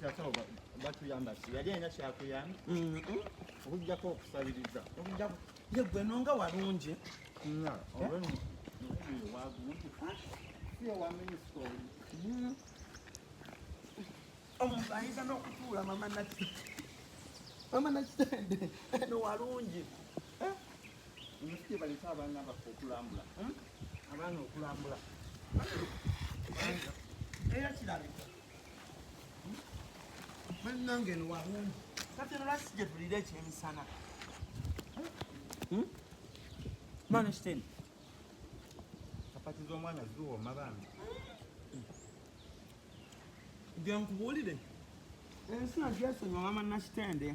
kyasaba batuyamba ki yali alina kyakuyamba okujjako okusabiriza ye gwe nonga walungi omuntu ayinza n'okutuula mama naki mama nakitende no walungi omusikyebaleeta abaana baffe okulambula abaana okulambula era kirabika bannange eno walungi kati eno lasi gye tulira ekyemisana maana kiteni kapati z'omwana ziwooma bambi gye nkubuulire ensi nagyesonyiwa mama nakitende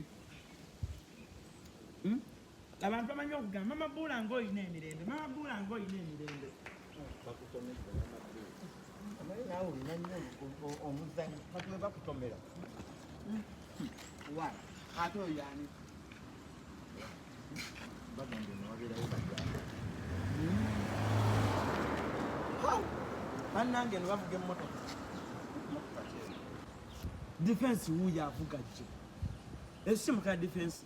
abantu bamanyi okugamba mama buula nga olina emirembe mama buula nga olina emirembe bannange no bavuga emmotoka defense wuyo avuga jjo esimu ka defense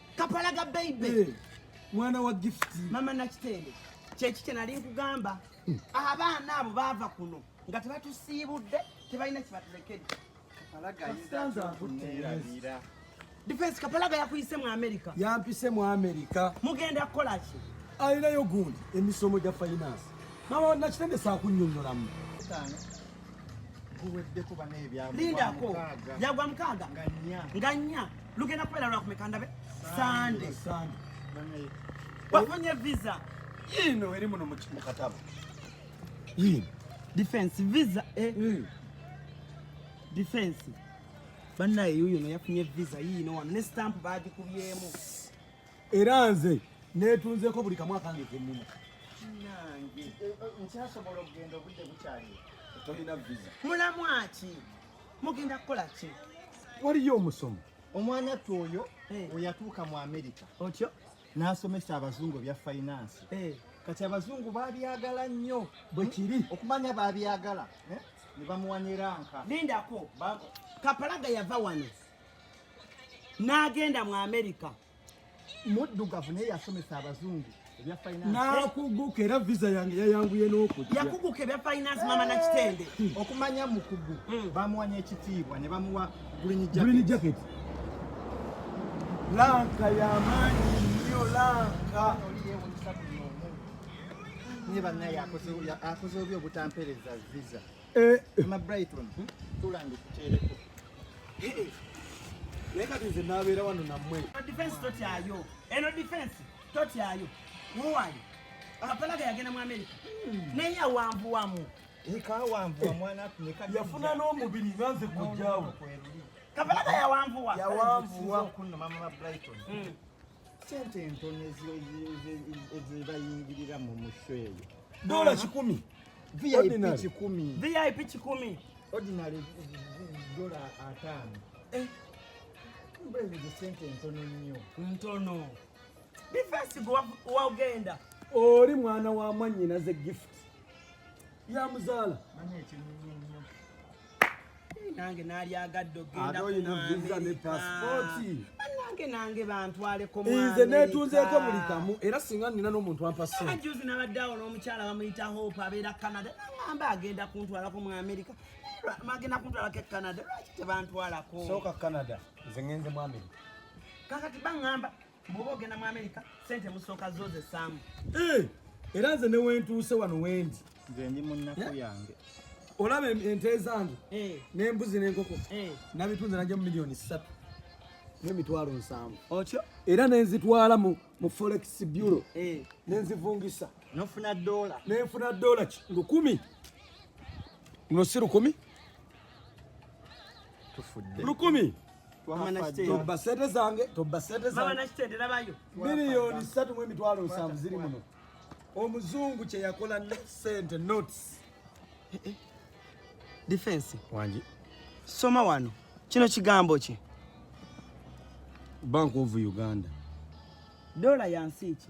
kapalaga baby eh, mwana wa gift mama nakitende kyeki kyenali nkugamba hmm. abaana abo baava kuno nga tebatusiibudde tebalina kibatulekedde defense kapalaga yakuyise mu america yampise mu america mugenda kukola ki alinayo gundi emisomo gya finance mama nakitende sakunyonyolamu guweddeko bana ebyalindako yagwa mukaaga nga nnya lugenda kubeera lwakumeka ndabe sande wafunye visa yiino eri muno mukatabo yiino defense visa eh. mm. defense bannaye yuuyo no yafunye visa yiino wano ne stamp baagikubyemu era nze netunzeko buli kamu akange kenina nange eh, eh, nkyasobola okugenda obudde bukyali tolina visa mulamu aki mugenda kukola ki waliyo omusomo omwana ttu oyo eh. oyatuuka mu amerika otyo n'asomesa abazungu ebya fayinansi eh. kati abazungu babyagala nnyo bwe kiri hmm? okumanya babyagala eh? ne bamuwanira nka lindako kapalaga yava wano n'agenda mu amerika muddugavu naye yasomesa abazungu nakuguka era visa yange yayanguye n'okujja yakuguka ebya finance mama na kitende hmm. okumanya mukugu hmm. bamuwa n'ekitiibwa ne bamuwa green jacket lanka yamaanyi nnyo lanka naye banaye akoze obi obutampereza visa Eh. Mama Brighton, hmm? tulange kukyereko. Eh, eh. Naye kati nze nabeera wano nammwe. Defense totyayo. Eno defense totyayo. Muwali. Akapalaga yagenda mu America. Hmm. Naye awanvuwamu. Ikawanvuwa mwana atumeka. Yafuna n'omubiri nga nze kujjawo. Kapalaga yawanvuwa. Yawanvuwa. Kunno mama Brighton. Hmm. sente entono ezebayingirira mu musho eyo dola kikumi vip kikumi vip kikumi ordinary dola atano eh. mbuleze sente entono nnyo ntono bifesi wagenda oli mwana wa mwanyinaze gift yamuzaala nange nalyagadde ogendaanange nange bantwaleko nze netunzeeko buli kamu era singa nina n'omuntu ampasajuzi nabadde awo n'omukyala bamuyita hope abeera canada nagamba agenda kuntwalako mu amerika magenda kuntwalako e canada lwaki tebantwalako sooka canada nze ngenze mu amerika kakati baŋamba bwoba ogenda mu amerika sente musooka zoze saamu eh, era nze newentuuse wano wendi nze ndi munaku eh? yange olaba ente zange eh. nembuzi nenkoko nabitunze naja mu miliyoni satu nemitwalo nsanvu otyo era nenzitwala mu forex bureau nenzivungisa nofuna dola nenfuna dola lukumi luno si lukumi tufudde lukumi tobba sente zange tobba sente zange miliyoni ssatu mu emitwalo nsanvu ziri muno omuzungu kye yakola ne sente notes eh, eh. defense wangi soma wano kino kigambo kye bank of uganda dola yansi ki